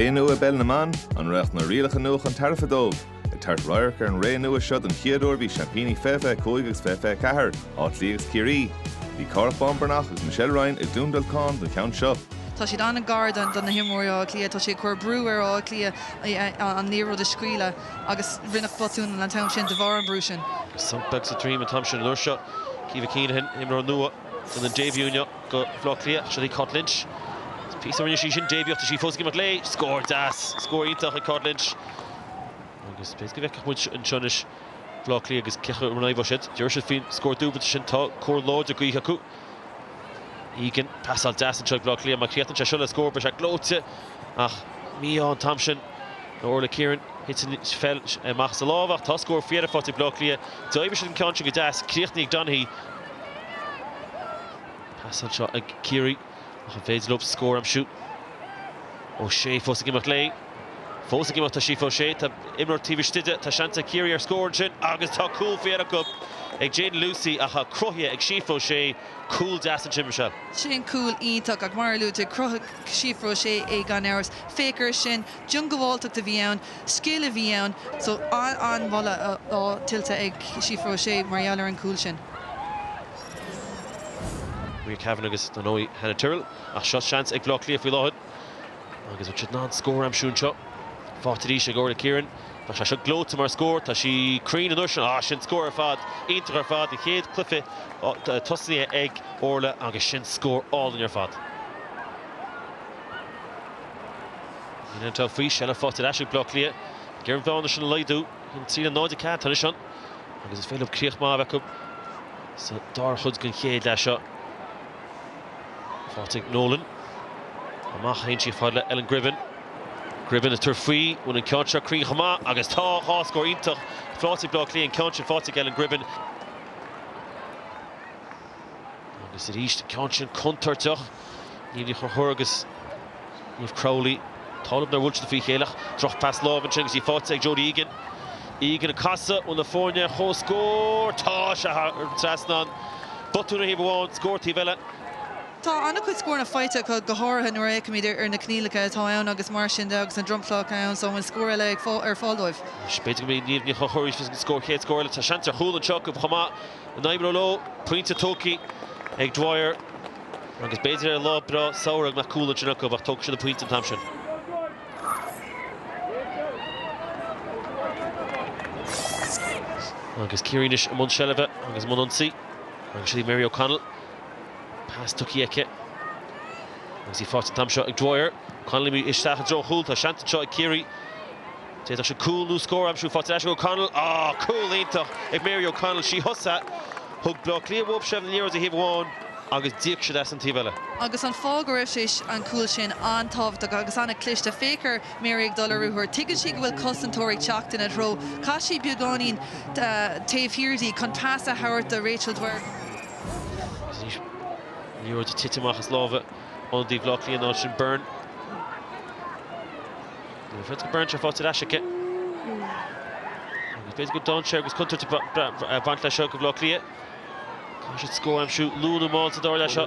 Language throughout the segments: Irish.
Ré nua i bpeil na mban, an raghadh na rialacha nua chun tairbhe dóibh? Ag tabhairt radharc ar an ré nua seo don chéad uair bhí seaimpíní 2025 agus 2024, Áth Cliath agus Ciarraí. Bhí Cárthach Bán Breathnach agus Michelle Ryan i gCluain Dolcáin don cheann seo. Tá siad an-ghar don do na himreoirí Átha Cliath, tá siad ag cur brú ar Átha Cliath an liathróid a scaoileadh agus rinneadh botún an t-am sin de bharr an bhrú sin. Beag sa dream an t-am sin. An uair seo Caoimhe Keenahan, imreoir nua, déanann début inniu. go Bhaile Átha Cliath, seo í Cáit Lynch, píosa ó rinne sí sin début ach tá sí fós ag imeacht léi, scór deas, scór iontach ag Cáit Lynch agus b'fhéidir go bhfeicfeadh muid anseo anois Bhaile Átha Cliath agus cé acu an rachaidh siad, an dtabharfaidh siad faoin scór dúbailte sin tá cóir láidir gaoithe acu. Egan, pasáil deas anseo ag Baile Átha Cliath, má chríochnaíonn sé seo le scór beidh sé gleoite ach mí-ádh an t-am sin do Orla Kieran, thit an pheil amach as a lámh ach tá scór faoi dheireadh faighte ag Baile Átha Cliath, d'oibrigh siad an ceann sin go deas, críochnaithe ag Donaghy. Pas anseo ag Ciarraí ach an féidir dóibh scór a aimsiú? O'Shea fós ag imeacht léi. Fós ag imeacht tá Síofra O'Shea. Tá imreoir taobh istigh de. Tá seans ag Ciarraí ar scór ansin agus tá cúl faoi dheireadh acu ag Jadyn Lucey ach cruthaithe ag Síofra O'Shea. Cúl deas ansin, Michelle. Sin cúl iontach ach mar a luaigh tú, cruthaithe ag Síofra O'Shea é gan amhras. Féach air sin. diongbháilteacht a bhí ann, scil a bhí ann. So an-mholadh tuillte ag Síofra O'Shea mar gheall ar an gcúl sin. Maria Kavanagh agus dar ndóigh Hannah Tyrrell. Ach seo seans ag Baile Átha Cliath faoi láthair agus an bhfuil siad in ann scór a aimsiú anseo. Faighte arís ag Orla Kieran. Tá sé seo gleoite mar scór. Tá sí cruinn an uair seo. Ah, sin scór ar fad. Iontach ar fad. An chéad cluiche tosnaíthe ag Orla agus sin scór álainn ar fad. Ní hionann atá faoi seilbh faighte ar ais ag Bleá Cliath ag iarraidh an bhearna sin a laghdú 1-3 le 0-4 atá anois ann agus is féidir leo críoch maith a bheith acu sa dara chuid den chéad leath seo. Faighte ag Nolan. Amach a théann sí fhad le Ellen Gribben. Gribben ag tabhairt faoi, an bhfuil an ceann seo cruinn chomh maith agus tá dhá scór iontach faighte ag Bleá Cliath an ceann sin faighte ag Ellen Gribben. Agus arís an ceann sin contúirteach. Niamh Ní Chonchúir agus Niamh Crowley. Tálann ar bhuailte faoi chéile ach droch phas láimhe ansin agus í faighte ag Jodie Egan. Egan ag casadh ó na foirne ar chomhscór. Tá sé thar an trasnán. Botún ar thaobh amháin, scór taobh eile. Tá an-chuid scóranna faighte acu, go háirithe nuair a fhéachaimid ar na coinníollacha atá ann agus mar sin de agus an dromchla ann so an bhfuil scór eile ar fáil dóibh? B'fhéidir go mbeidh Niamh Ní Chonchúir arís leis an scór, chéad scór eile. Tá seans ar chúl anseo acu chomh maith. a n-imreoirí leo. Pointe tugtha ag Dwyer agus b'fhéidir ar lá breá samhraidh nach cúl ansin acu ach tógfaidh siad an pointe an t-am sin. Agus Ciarraí anois i mbun seilbhe agus i mbun ionsaí agus í ag Mary O'Connell. Pas tugtha aici agus í faighte an t-am seo ag Dwyer. Connolly isteach i dtreo an chúil. Tá seans anseo ag Ciarraí. D'fhéadfadh siad cúl nó scór a aimsiú. Faighte ar ais ag O'Connell. Aww! Cúl iontach ag Mary O'Connell. Sí a thosaigh! Thug Bleá Cliath whoop seimh a n-aire do thaobh amháin agus d'íoc siad as an taobh eile. Agus an fáth go raibh sé an cúl sin an-tábhachtach agus an-chliste. Féach ar Mary ag dul ar ruathar. Tuigeann sí go bhfuil cosantóirí ag teacht ina treo. Chaith sí beagáinín taobh thiar di chun pas a thabhairt do Rachel Dwyer. Liathróid ag titim amach as lámha ionadaí Bhleá Cliath an áit sin, Byrne. Bhí fiotail Byrne tá faighte ar ais aici. B'fhéidir go dtáin sé agus contúirt ag baint leis seo do Bhleá Cliath. Caithfidh siad scór a aimsiú luath nó mall sa dara leath seo.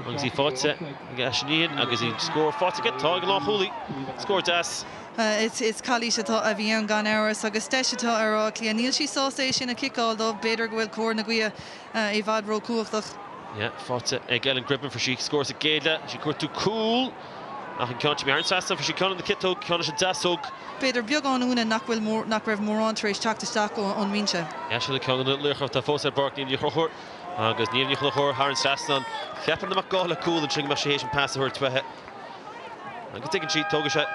Agus í faighte ag Aisling Nyhan agus í scór faighte aici. Tá ag an lánchúlaí. Scór deas. Is calaois atá a bhí ann gan amhras agus deis atá ar Áth Cliath. Níl sí sásta é sin a chiceáil dóibh. B'fhéidir go bhfuil cóir na gaoithe i bhfad ró-chumhachtach. Faighte ag Ellen Gribben fuair sí scór sa gcéad leath. Sí ag cuartú cúl. Ach an ceann sin, imithe thar an trasnán fuair sí, ceann lena ciotóg, ceann leis an deasóg. B'fhéidir beagán ionadh nach bhfuil, nach raibh mórán tar éis teacht isteach ón mbinse. Is í ceann de na laochra atá fós ar an bpáirc Niamh Ní Chonchúir agus Niamh Ní Chonchúir thar an trasnán. Cheap an marcálaí cúl ansin go mbeadh sí théis an pas a thabhairt uaithi. Agus tuigeann sí, tógfaidh sé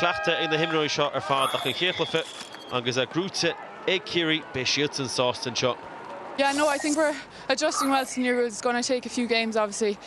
cleachtadh ag na himreoirí seo ar fad ach an chéad chluiche agus é gnóite ag Ciarraí, beidh siadsan sásta anseo.